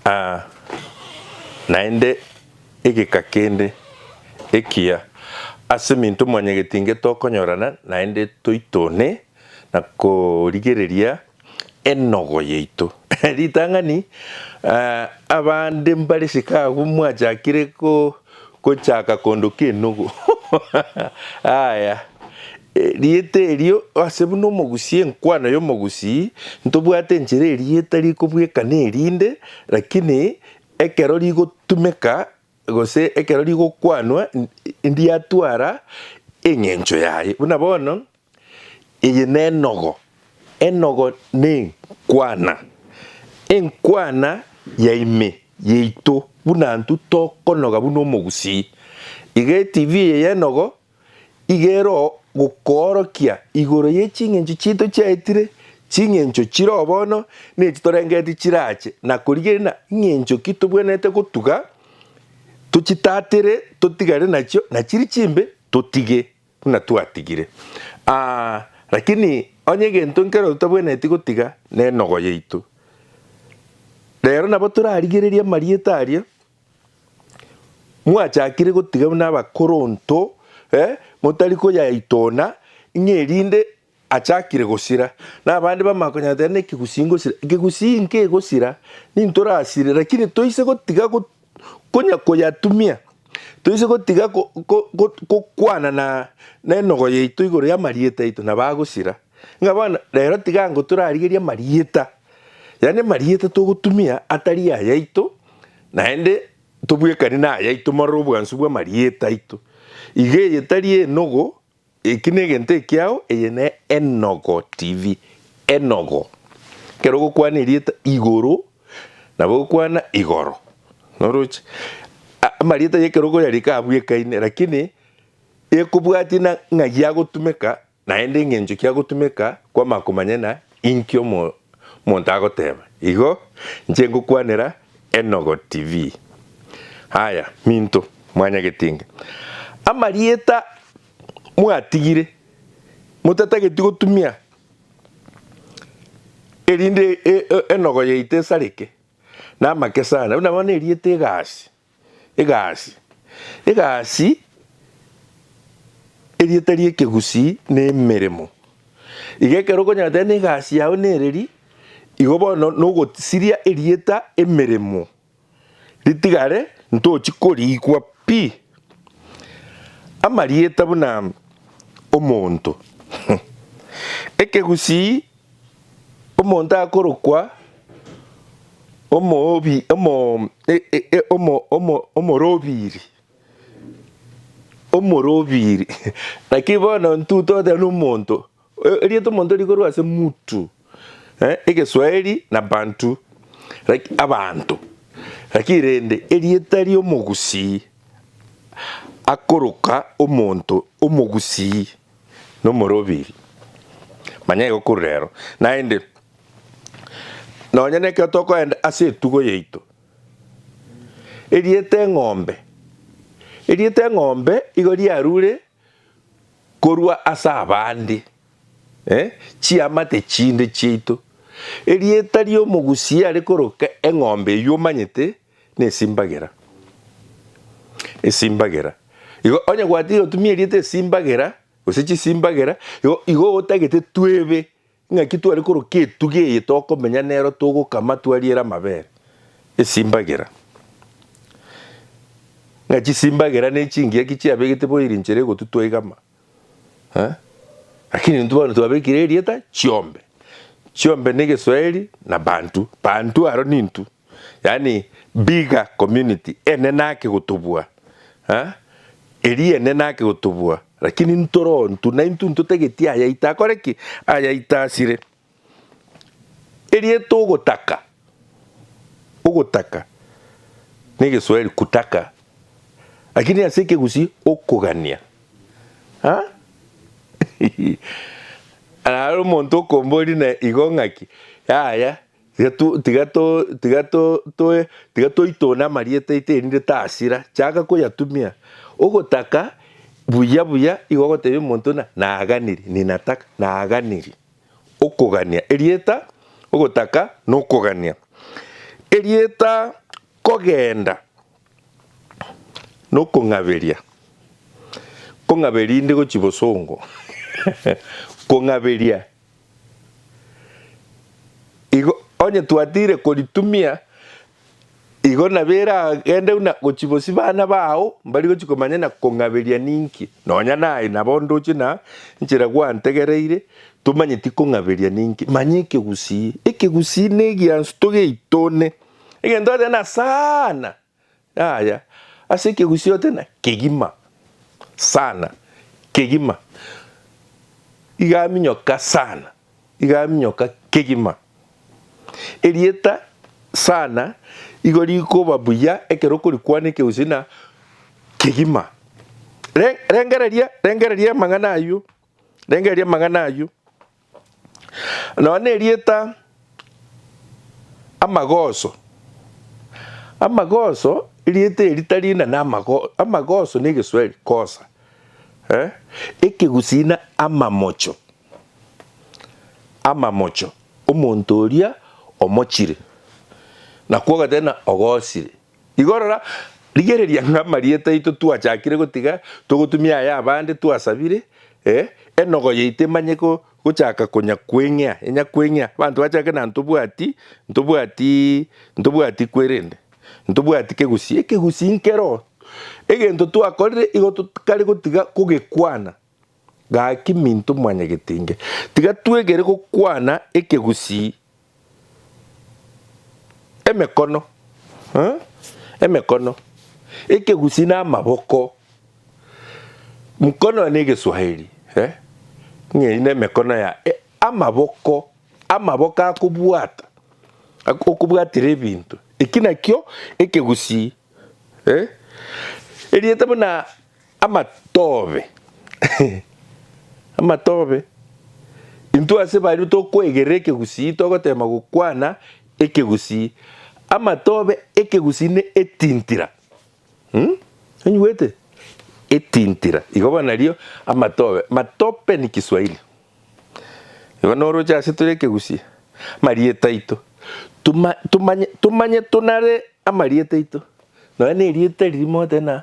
Aa, naende egeka kende ekiya ase minto mwanyegeti inge tokonyorana naende toitone na korigereria enogo yaito. Ritang'ani, Aa, abande mbare Chicago mwachakire ko. Gochaka kondo k'enogo. Aya, erieta erio ase buna omogusii, enkwano y'omogusii, ntobwate enchera erieta rikobwekana erinde, lakini ekero rigotumeka gose ekero rigokwanwa, ndiatwara eng'encho yaye. Buna bono. Eye nenogo, enogo nenkwana, enkwana ya ime yaito buna intwe tokonoga buna omogusii. Iga eTV eye y'enogo iga ero gokoorokia igoro ye ching'encho chiaito chiaetire, ching'encho chiroo bono, na echi torengeretie chirache, na korigerina ing'encho ki tobwenerete gotuga, tochitatere, totigane nachio, na chiria chimbe totige. buna twatigire. Aa, lakini onye egento nkero totabwenereti gotiga nenogo yaito. Rero nabo torarigererie amarieta aria mwachakire gotiga buna abakoronto, eh, motari koyaitona, ng'a erinde Achakire gosira, na abande bamanye konyatera n'ekegusii ngosira. Ekegusii nkegosira, nintwe orasire, lakini toise gotiga konya koyatumia, toise gotiga gokwana na nenogo yaito igoro y'amarieta aito, nabo agosira. Ng'a bono rero tiga ngo torarigerie amarieta, yaani amarieta togotumia atari ayaito, naende tobwekani nayaito morero obwansu bw'amarieta aito. Iga eye tari enogo Eki negento ekiao eye ne enogo TV enogo ekero ogokwana erieta igoro nabo ogokwana igoro noroche amarieta ye ekero okoyarika abwo ekaine lakini ekobwatie na ng'ai agotumeka naende eng'encho kiagotumeka kwama komanya na Inki omonto agoteba? Igo inche ngokwanera Enogo TV. Aya, minto, mwanyagetinga amarieta mwatigire, motatageti gotumia erinde enogo yaito esareke namake sana, buna bono erieta egasi. Egasi. Egasi, erieta ri'ekegusii n'emeremo. Iga ekero okonyora n'egasi yao nereri, igo bono nogosiria erieta emeremo ritigare ntochi korigwa pi. Amarieta buna omonto. Ekegusii Omonto akorokwa omorobiri, omorobiri, lakini bono intwe togoteba nomonto, erieta omonto rikorwa ase mtu, egeswahili na bantu, abanto, lakini rende erieta ri'omogusii akoroka omonto omogusii. nomorobiri. Manya igo korwa rero. Naende, nonya nekero tokoenda ase etugo yaito, erieta eng'ombe, erieta eng'ombe igo riarure korwa ase abande, eh, chiamate chinde chiaito. Erieta ri'omogusia riare koroka eng'ombe eyio omanyete, Nesimbagera, esimbagera. Igo onye gwatiire otumia erieta esimbagera, gose chisimbagera, igo igo otagete twebe ng'aki tware koroka etuga eye tokomenya nero togokama twariere amabere, esimbagera. Ng'a chisimbagera ne chingiya ki chiabegete bono ere enchera egotutwa igama eh, lakini intwe bono twabekire erieta chiombe. Chiombe na egeswaeri na bantu, bantu aro nintwe. Yaani bigger community ene naki gotobua eh eria ene naki gotobua lakini ntoro ntu na intu ntotageti ayaito akore ki? Ayaito asire. Erieta ogotaka, ogotaka na egeswahili kutaka lakini ase ekegusii okogania ah naro omonto okombori na igo ng'aki yaya. Tiga to, tiga to, tiga to, toe, tiga toitone amarieta aito erinde tasira. Chaka koyatumia. Ogotaka buya buya igo ogotebia omonto ng'a naganiri, ninataka, naganiri. Okogania. Erieta, ogotaka, na okogania. Erieta kogenda, na okong'aberia. Kong'aberia inde gochia bosongo. Kong'aberia Igo onye twatiire koritumia, igo nabo eragende buna gochia bosio bana bao mbari gochia komanya na kong'aberia ninki. Nonya naye nabo ndoche na nchera gwantegereire, tomanyeti kong'aberia ninki. Manya ekegusii. Ekegusii negiansu togeitone egento ateba na sana. Yaya, ase ekegusii ote na kegima sana, kegima, iga aminyoka sana, iga aminyoka kegima. Erieta sana igo rikoba buya ekero okorikwana ekegusii na kegima. Re, rengereria, rengereria amang'ana ayio, rengereria amang'ana ayio. Nonya nerieta amagoso. Amagoso erieta eri tari inane amagoso, amagoso na egeswahili kosa eh? Ekegusii na amamocho, amamocho, omonto oria omochire, nakwo ogoteba ng'a ogosire. Igo rora, rigereria ng'a amarieta aito twachakire gotiga togotumia aya abande twasabire, ee, enogo yaito emanye gochaka konya kweng'ea, enya kweng'ea, abanto bachake na ntobwati, ntobwati, ntobwati kwerende, ntobwati kegusii, ekegusii nkero, egento twakorire igo tokare gotiga kogekwana. Gaki minto mwanyagetenge, tiga twegere gokwana ekegusii emekono, eh, emekono, ekegusii na amaboko. Mkono ne egeswahili, eh, ng'eyi ne emekono ya e, amaboko, amaboko akobwata, ak- okobwatera ebinto. Eki nakio ekegusii, eh. Erieta buna Amatobe, amatobe! Intwe ase baria tokwegerera ekegusii togoteema gokwana ekegusii. Amatobe, ekegusii ne etintira. Umm? Onyigwete? Etintira. Igo bono nario amatobe. Matope ni Kiswahili. Igo noroche ase tore ekegusii. Amarieta aito. Tuma, tumanye, tumanye tunare amarieta aito. Nonya na erieta riria mogoteba na.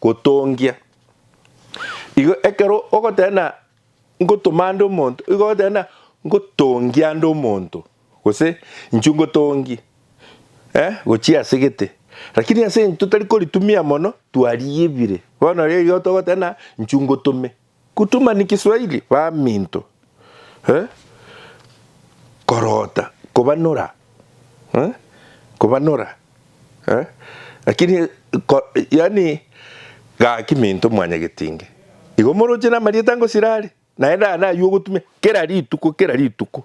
gotongia. Igo ekero ogoteba ng'a ngotoma nde omonto, igo ogoteba ng'a ngotongia nde omonto, gose inchuo ngotongie gochia ase gete. Rakini ase eng'encho totari koritumia mono, twariebire. Bono riria igo togoteba ng'a inchuo ngotome. Kutumani kiswahili baminto eh korota kobanora eh kobanora eh lakini ko yaani gaki minto mwanyagetinge igo moroche namarieta ngosira are naende aya naywo ogotumia kera rituko kera rituko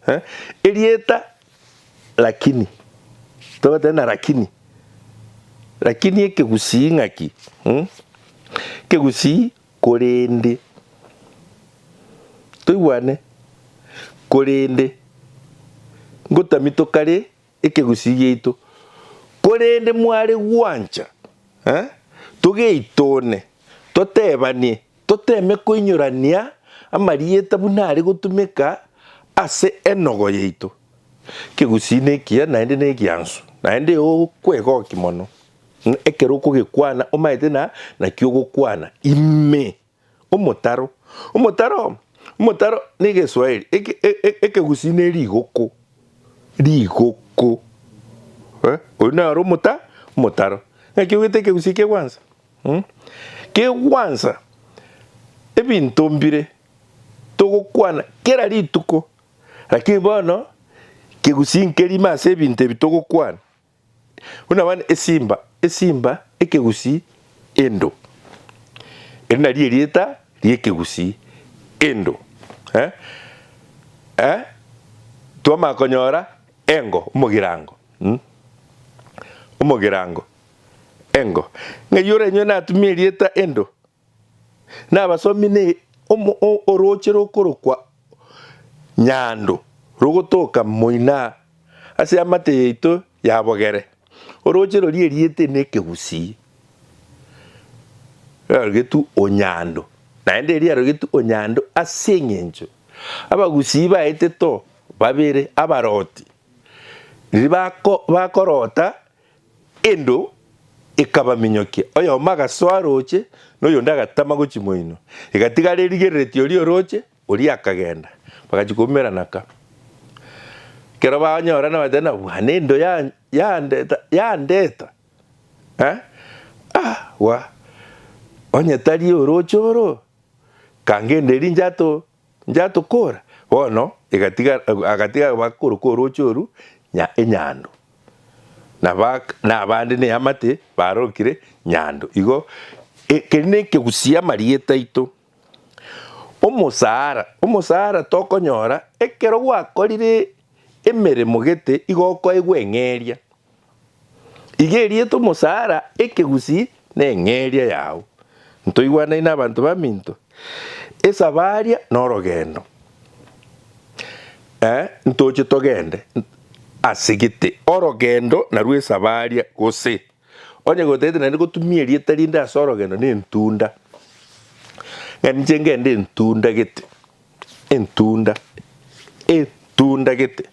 eh erieta lakini togoteba na lakini lakini ekegusii ng'aki mm ekegusii. Korende, toigwane, korende, ngotamia tokare ekegusii giaito, korende mware gwancha, eh, togeitone, totebanie, toteme koinyorania amarieta buna are gotumeka ase enogo yaito. Ekegusii nekiya naende negiansu, naende eokwegooki mono. Ng'a ekero okogekwana omaete na nakio ogokwana ime omotaro. Omotaro, omotaro na egeswahili eke ekegusii ne rigoko, rigoko eh oyio naro omota omotaro. Naki ogete ekegusii kegwansa mm kegwansa ebinto mbire togokwana kera rituko lakini bono kegusii nkerimo ase ebinto ebi togokwana. Buna abande esimba, esimba, ekegusii, endo. Eri nario erieta ri'ekegusii, endo. Eh? Eh? Twamanya konyora engo, omogirango. Mm? Omogirango. Engo. Ng'ai ore inyowe natumie erieta endo. Nabasomi ne orooche rokorokwa Nyando rogotoka moina ase amate yaito ya bogere. Orooche roria eriete n'Ekegusii riarogetwe Onyando, naende erio riarogetwe Onyando ase eng'encho Abagusii baetete o babere abaroti. Riria bakoroota. Endo ekabaminyokia, oyomo agasoa arooche, na oyonde agatama gochia moino. Egatigara erigereretie oria orooche, oria akagenda. Bagachia koumera naka. Ekero banyorana bateba, Nabwana endo yandeta, yandeta. Eh? Ah, wa. Onye tari orooche oro, kanga endo eri inche ato. Njatokora bono egatiga agatiga bakorokwa orooche oru nya enyando, na ba na abande neamate barokire nyando igo e keri nekegusia amarieta aito. Omosara omosara tokonyora ekero gwakorire emeremo gete igo okoegwa eng'eria Iga erieta omosaara ekegusii na eng'eria yao. Ntoigwanaine abanto baminto, esabaria na orogendo. Ee, ntoche togende. Ase gete, orogendo narwo esabaria gose. Onye gotagete naende gotumia erieta rinde ase orogendo ne entunda. Ng'a ninche ngende entunda gete. Entunda, entunda gete.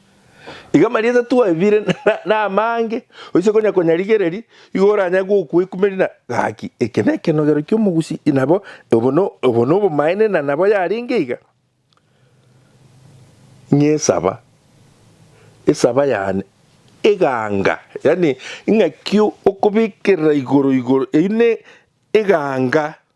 Iga marieta twaebire namange, oise konya konyarigereria, igo oranyare gokwekumeria na gaki, eke nekenogero kiomogusi, inabo obo nobomaene na nabo yarenge iga. Ng'esaba, esaba yane eganga, yaani ng'aki okobekerera igoro igoro, eyio ne eganga.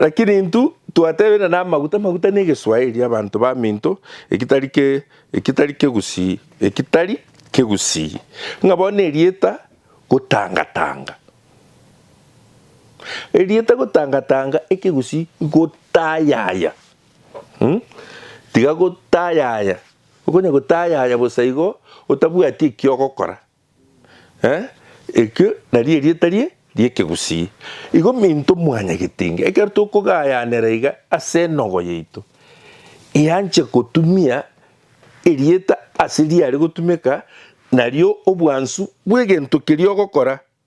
Lakini intwe twatebeire namaguta, amaguta negeswahili abanto baminto ekitari ke ekitari kegusii ekitari kegusii ng'a bono erieta gotangatanga erieta gotangatanga ekegusii gotayaya mm tiga gotayaya okonya gotayaya bosa igo otabwati ekiogokora. Eh, ekio nario erieta rie ri'ekegusii. Igo minto mwanya getinga, ekero tokogayanera iga ase enogo yaito, eanche gotumia erieta ase riare gotumeka nario obwansu bw'egento keria ogokora.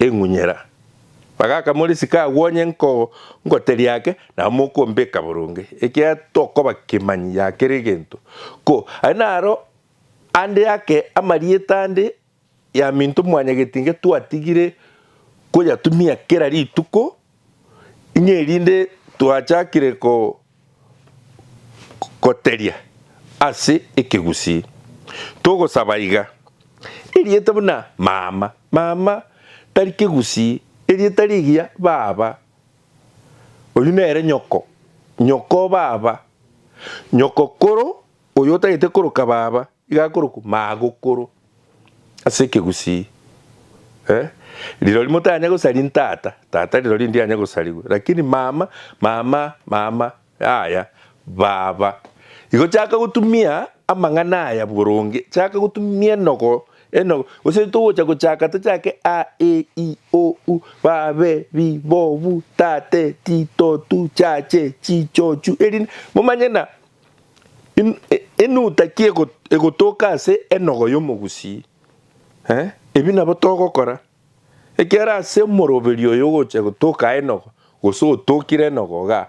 eng'unyera, bagaka more isiko agwo onye ngoteria ake, nabo mokombeka boronge, ekiagera tokoba kemanyi ya kera egento. Ko aye naro ande ake amarieta ande y'aminto mwanyagetinga twatigire koyatumia kera rituko. Inye erinde twachakire goteria ase ekegusii, togosaba iga, Erieta buna mama, mama tari kegusii, erieta rigiya baba, oyio nere nyoko, nyoko baba, nyoko koro Oyo otagete koroka baba, iga akorokwa magokoro ase ekegusii. Eh, rirori motanya gosaria ntata, tata rirori ndianya gosarigwa, lakini mama, mama, mama, yaya, baba. Igo chaka gotumia amang'ana aya boronge, chaka gotumia enogo, enogo, gose togocha gochaka tochake a, e, i, o, u, ba, be, bi, bo, bu, ta, te, ti, to, tu, cha, che, chi, cho, chu, erinde momanye na Enuta ki egotoka ase enogo y'omogusii? Eh, ebi nabo togokora. Ekiagera ase omoroberi oyo ogocha gotoka enogo, gose otokire enogo igaa,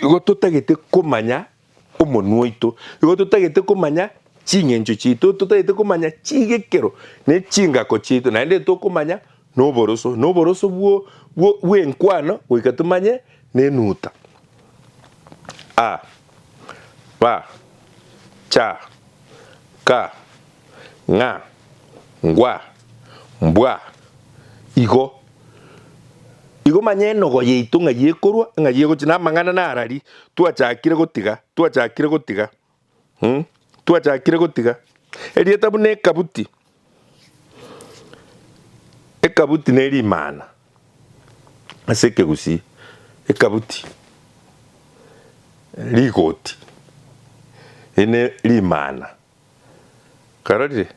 igo totagete komanya omonwa oito, igo totagete komanya ching'encho chiaito, totagete komanya chigekero ne chingako chiaito, naende tokomanya Noboroso, noboroso bwo, bwo, bw'enkwano goika tomanye nenuta. A, ba, cha, ka, ng'a, ngwa, mbwa, igo. Igo manya enogo yaito ng'a yekorwa, ng'a yegochia, namang'ana narari, twachakire gotiga, twachakire gotiga. Twachakire gotiga erieta buna ekabuti. Ekabuti ne rimana ase ekegusii. Ekabuti rigoti eri ne rimana. Karorire?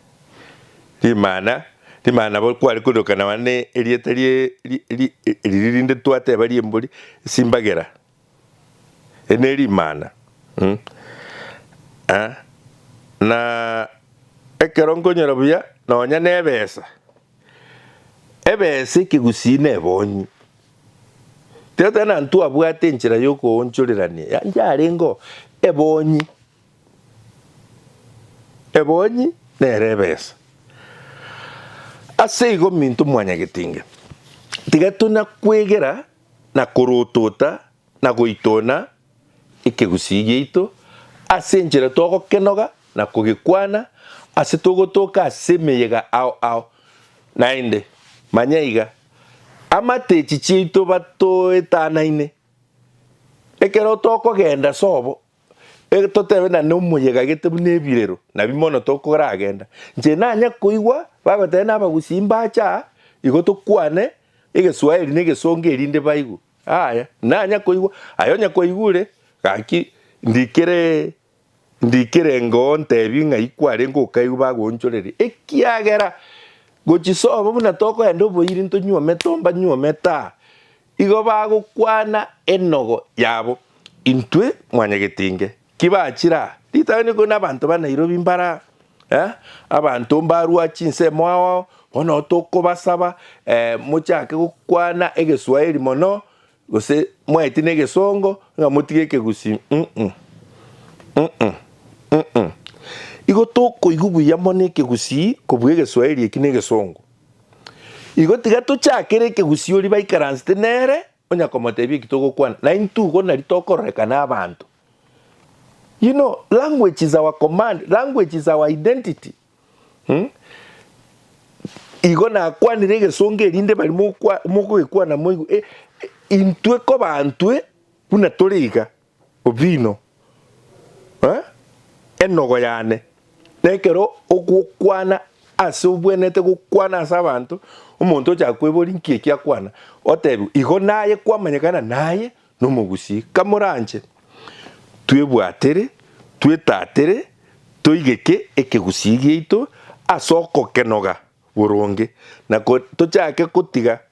Rimana rimana bo kware korokana na erieta ri ri riri rinde twateba rimbori, simbagera. Eri ne rimana, eh, na ekero nkonyora buya nonya nebesa, ebesa ekegusii nebonyi. Tiga tari na ntwabwate enchera yokoonchorerania, yaani yarengeo ebonyi, ebonyi nere ebesa. Ase igo minto mwanyagetinga, tiga tona kwegera. na korotota na goitona ekegusii giaito ase enchera togokenoga na kogekwana ase togotooka ase emeyega ao ao. Naende, manya iga, amatechi chiaito batoetanaine. Ekero tokogenda sobo Totebe na nomoyegagete buna ebirero, nabi mono tokoragenda. Inche nanya koigwa bagoteba nabagusi imbache aa, igo tokwane egeswahili na egesongo erinde baigwe. Aya, nanya koigwa, aye onye kwaigure, gaki ndikere ndikere ngoo ntebi ng'ai kwarenge okaigwe bagoonchoreria. Ekiagera gochisobo buna tokoenda oboiri ntonyuome tomba nyuome taa, Igo bagokwana enogo yabo, Intwe mwanyegete inge, ki bachira ritabe niko nabanto ba Nairobi mbara eh, abanto mbarua chinse moaoao, bono tokobasaba eh, mochake gokwana egeswahili mono gose mwaeti negesongo ng'a motige ekegusi mm-mm, mm-mm, mm-mm. Igo tokoigwa buya mono ekegusi kobua egeswahili eki negesongo. Igo tiga tochakere ekegusii oria baikaransete nere, onya komotebia eki togokwana, na intwe igo nari tokororekana n'abanto. You know, language is our command, language is our identity. Hmm? Igo nakwanire egesongo erinde bari mokwa- mokogekwana moigwe, eh, eh, intwe kobantwe buna tore iga. Obino, ee, enogo yane, na ekero ogokwana ase obwenerete gokwana ase abanto, omonto ochaka kweboria nki eki akwana, otebiwe, igo naye kwamanyekana naye nomogusii. Kamoranche twebwatere, twetatere, toigeke ekegusii giaito ase okokenoga boronge, na tochake gotiga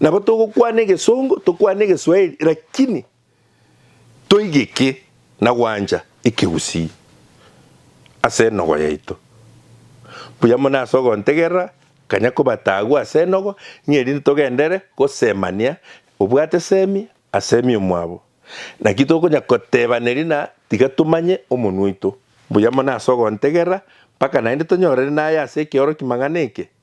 Nabo togokwana egesongo, tokwane egeswahili lakini toigeke na gwancha ekegusii ase enogo yaito. Mbuya mono ase ogontegerera, kanya kobata agwo ase enogo ng'a erinde togendere gosemania obwate semi asemi omwabo. Naki tokonya kotebana erio na tiga tomanye omonwa oito. Mbuya mono ase ogontegerera mpaka naende tonyorere naye ase ekeorokimang'ana eke.